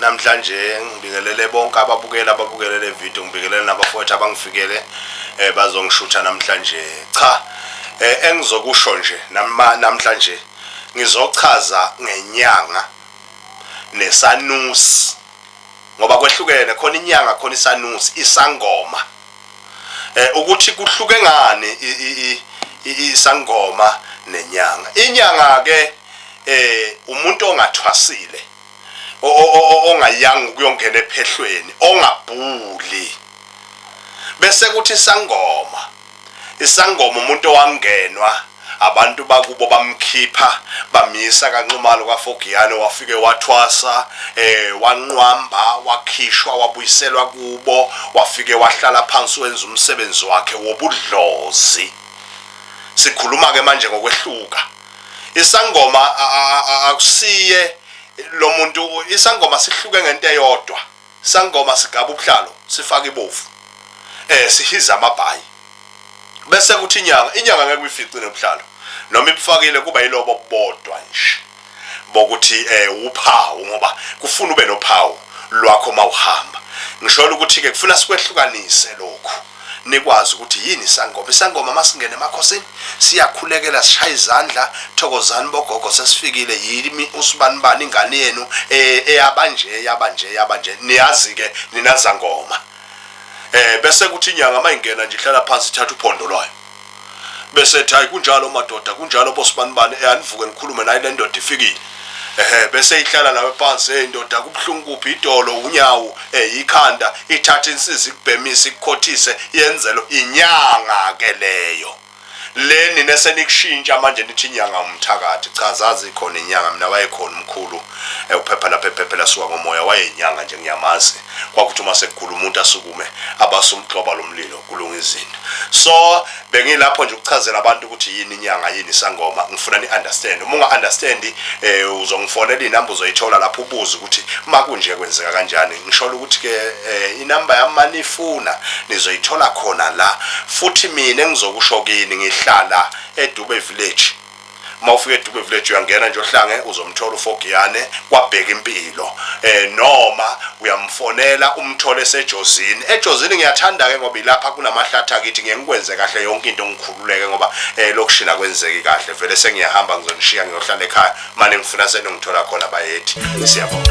namhlanje ngibingelele bonke ababukela ababukele le video ngibingelele nabafowethu abangifikele eh bazongishutha namhlanje cha eh engizokusho nje namhlanje ngizochaza ngenyanga nesanusi ngoba kwehlukene khona inyanga khona isanusi isangoma eh ukuthi kuhluke ngani isangoma nenyanga inyanga ke eh umuntu ongathwasile ongayanga ukuyongena ephehlweni ongabhuli bese kuthi isangoma isangoma umuntu owangenwa Abantu bakubo bamkhipha bamyisa kaNxumalo kwaFogiyane wafike wathwasa eh wanqwamba wakhishwa wabuyiselwa kubo wafike wahlala phansi wenza umsebenzi wakhe wobudlozi sikhuluma ke manje ngokwehluka isangoma akusiye lo muntu isangoma sihluke ngento eyodwa sangoma sigaba ubuhlalo sifaka ibovu eh sihiza amabhayi bese kuthi inyanga inyanga ngeke uyifice nobuhlalo noma ibufakile kuba yilobo bodwa nje bokuthi eh uphawu ngoba kufuna ube nophawu lwakho mawuhamba ngisholo ukuthi ke kufuna sikwehlukanise lokho nikwazi ukuthi yini isangoma isangoma masingene emakhosini siyakhulekela sishaya izandla thokozani bogogo sesifikile yimi usibani bani ingane yenu eh, eyabanje eyabanje eyabanje niyazi ke ninazangoma eh bese kuthi inyanga mayingena nje ihlala phansi ithatha uphondo lwayo bese ethi hayi kunjalo madoda kunjalo bosibanibani eh anivuke nikhulume naye le ndoda ifikile ehe bese ihlala nawe phansi hey ndoda kubuhlungu kuphi idolo unyawo eh ikhanda ithatha insizi ikubhemisa ikukhothise yenzelo inyanga ke leyo le nina senikushintsha manje nithi inyanga umthakathi cha zazi khona inyanga mina wayekhona umkhulu ewuphepha lapha ephephela suka ngomoya wayenyanga nje ngiyamazi kwakuthi uma sekugula umuntu asukume abasumgxoba lomlilo kulunga izinto so bengilapho nje ukuchazela abantu ukuthi yini inyanga yini sangoma ngifuna ni understand uma unga understand eh uzongifonela inamba uzoyithola lapho ubuze ukuthi makunje kwenzeka kanjani ngishola ukuthi ke eh, inamba yami manifuna nizoyithola khona la futhi mina ngizokusho kini ngihlala eDube village uma ufika edube village uyangena nje ohlange uzomthola ufogiyane kwabheka impilo eh noma uyamfonela umthole esejozini ejozini ngiyathanda ke ngoba ilapha kunamahlathi akithi ngiye ngikwenze kahle yonke into ngikhululeke ngoba eh lokushina kwenzeki kahle vele sengiyahamba ngizonishiya ngiyohlala ekhaya manje ngifuna senongithola khona bayethi siyabonga